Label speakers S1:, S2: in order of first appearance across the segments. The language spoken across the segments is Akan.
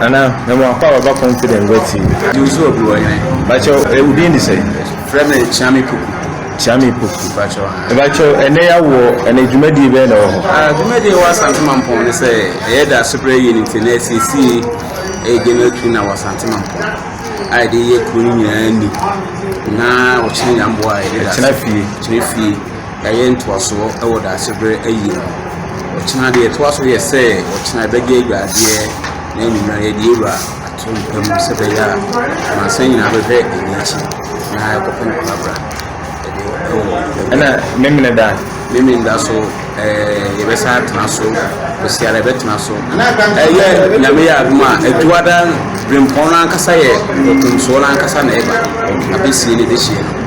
S1: Nana me mo akɔ a baba confident bɛ ti. Jim so obi wɔ hene.
S2: Bakyɛw eh,
S1: wodin de sɛn? Frɛ me Kyeame
S2: Poku. Kyeame Poku.
S1: Bakyɛw ha. Eh, bakyɛw
S2: ɛnɛ yawɔ ɛnɛ
S1: dwumadie bɛyɛ na wɔ hɔ? Ah, dwumadie wɔ Asante
S2: Mampɔn ne sɛ ɛyɛ da asobrɛ yie nti na ɛsiesie ɛyɛ general tu na wɔ Asante Mampɔn a yɛde yɛ kuro no nyinaa ni na wɔkyerɛ nyamboa a yɛde da. Ɛkyerɛ fie. Kyerɛ fie. ɛyɛ ntoasoɔ wɔ Daasebrɛ ayie no ho. Ɔkyena deɛ ɛtoa so yɛ sɛ ɔkyena yɛbɛgye adwadeɛ na anwummerɛ yɛde awura atompa mu sɛ ɛbɛyɛ a amansan nyinaa bɛhwɛ yɛn akyi na ɛkɔpɛ no korabra. ɛna
S1: memene da memene da so
S2: yɛbɛsan atena so ɔsiara yɛbɛtena so ɛyɛ nyame yɛ adom a atuada berempɔn no ankasa yɛ ɔtomsoɔ no ankasa na ɛba abɛsie no bɛhyie no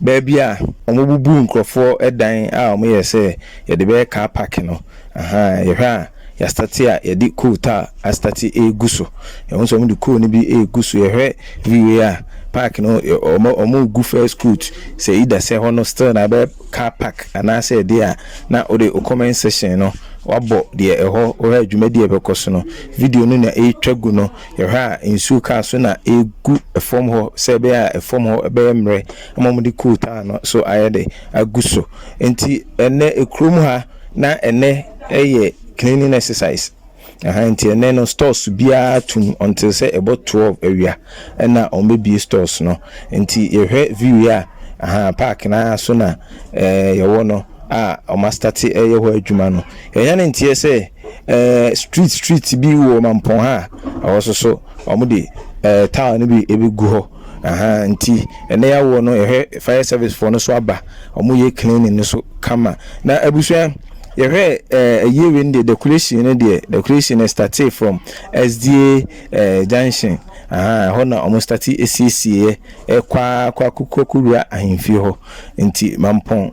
S1: Baabi a wɔbubu nkurɔfoɔ dan a wɔyɛ sɛ yɛde bɛyɛ car park no, ahaa, yɛhwɛ a yɛastate a yɛde coal tar astate regu so. Yɛhu sɛ wɔde coal no bi regu so. Yɛhwɛ wieeɛ a, park no, wɔn wɔregu first coat. Sɛ either sɛ ɛhɔ no still na ɛbɛyɛ car park anaasɛ ɛdeɛ a, na wode wo comment section no woabɔ deɛ ɛhɔ, wohwɛ a dwumadie a ɛbɛkɔ so no, video no na ɛretwa gu no. Yɛhwɛ a, nsuo kaa so na ɛregu fam hɔ sɛ ɛbɛyɛ a fam hɔ bɛyɛ mmerɛ ama wɔde coal tar no so ayɛ dɛ agu so. Nti ɛnnɛ kurom ha na ɛnnɛ yɛ cleaning exercise. Ahaa nti ɛnnɛ no stores biara tum until sɛ ɛbɔ twelve awia ɛna wɔbɛbue stores no. Nti yɛhwɛ view yi a, ahaa park no ara so na yɛwɔ no a wɔastate reyɛ hɔ adwuma no. Yɛanya ne nteɛ sɛ. Eh, street street bi wɔ mampɔn ha a ɛhɔ soso wɔn de eh, taa no bi ebegu hɔ aha nti ɛnɛ yɛawoɔ no yɛhwɛ fire service foɔ no so aba wɔn yɛ cleaning no so kama na abusua yɛhwɛ eh, ɛyɛ wei no deɛ decoration no deɛ decoration no startee from sda eh, junction aha ɛhɔ na wɔn starte esiesie yɛ ɛkɔ akɔ akokɔ kowura ahemfie hɔ nti mampɔn.